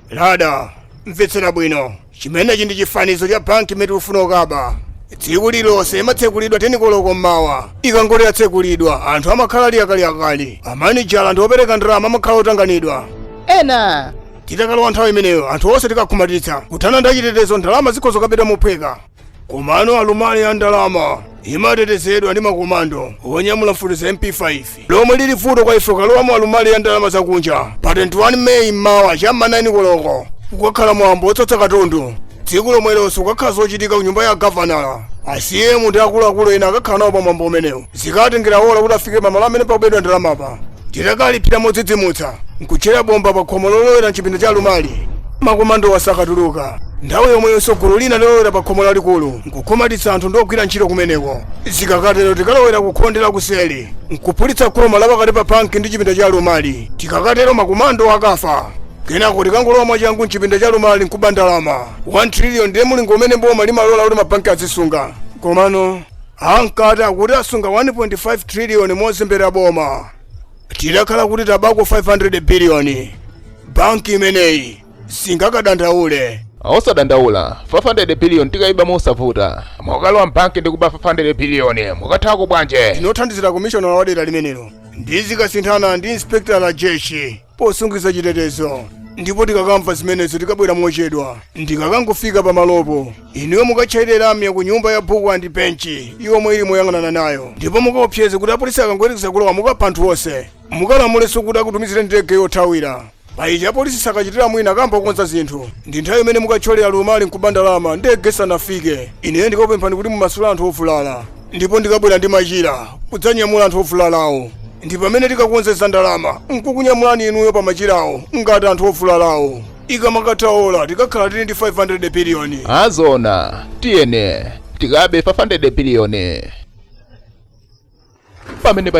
lada mvetsera bwino chimenechi ndi chifanizo cha banki imene tikufuna kukaba tsiku lilonse imatsekulidwa teni koloko mmawa ikangoti yatsekulidwa anthu amakhala ali akaliakali amanejala ndi opereka ndalama amakhala otanganidwa ena titakalowa nthawi imeneyo anthu onse tikakhumatitsa nkuthana ndi achitetezo ndalama zikhoza kukabedwa mophweka komano alumali ya ndalama imatetezedwa ndi makomando onyamula mfuti za mp5 lomwe lili vuto kwa ife kukalowa mu alumali ya ndalama zakunja pa 21 meyi mmawa cha ma 9 koloko kukakhala mwambo otsatsa katundu tsiku lomwelonso kukakhala zochitika ku nyumba ya gavanala acm ndi akuluakulu ena akakhala nawo pa mwambo umenewu Zikatengera ola kuti afike pamalo amene pakubedwa ndalamapa. Tikafika modzidzimutsa, n'kutchera bomba pakhomo lolowera m'chipinda cha alumali, makomandowa sakatuluka. Nthawi yomweyonso gulu lina lolowera pakhomo lalikulu n'kukhumatitsa anthu ndi ogwira ntchito kumeneko. Zikakatero tikalowera kukhonde lakuseli, n'kuphulitsa khoma lapakati pa banki ndi chipinda cha alumali. Tikakatero makomandowa akafa. Kenako tikangolowa mwachangu m'chipinda cha alumali n'kuba ndalama. 1 triliyoni ndiye mlingo umene boma limalola kuti mabanki azisunga. Komano. Amkati akuti asunga 1.5 trillion mozembera boma. Titakhala kuti tabako 500 billion. Banki imeneyi singakadandaule. osadandaula 500 billion tikaiba mosavuta mukalowa mbanki ndikuba 500 billion mukathawako bwanje Ndine wothandizira komishonala wa dera limenelo. Ndizikakuthana ndi inspector Rajesh. posungitsa chitetezo ndipo tikakamva zimenezo tikabwera mochedwa ndikakangofika pamalopo inuyo mukatchayire lamya ku nyumba ya book and bench yomwe ili moyang'anana nayo ndipo mukaopseze kuti apolisi akangoyerekeza kulowa mukapha anthu onse mukalamulenso kuti akutumizire ndege yothawira pa izi apolisi sakachitira mwina akayamba kukonza zinthu ndi nthawi imene mukathyolere alumali nkuba ndalama ndege isanafike ineyo ndikakupemphani kuti mumasule anthu ovulala ndipo ndikabwera ndi machira kudzanyamula anthu ovulalawo ndi pamene tikakonze za ndalama nkukunyamulani inuyo pa machirawo ngati anthu ovulalawo ikamakatha ola tikakhala tili ndi 500 biliyoni azona tiyene tikabe 500 biliyoni pamene pa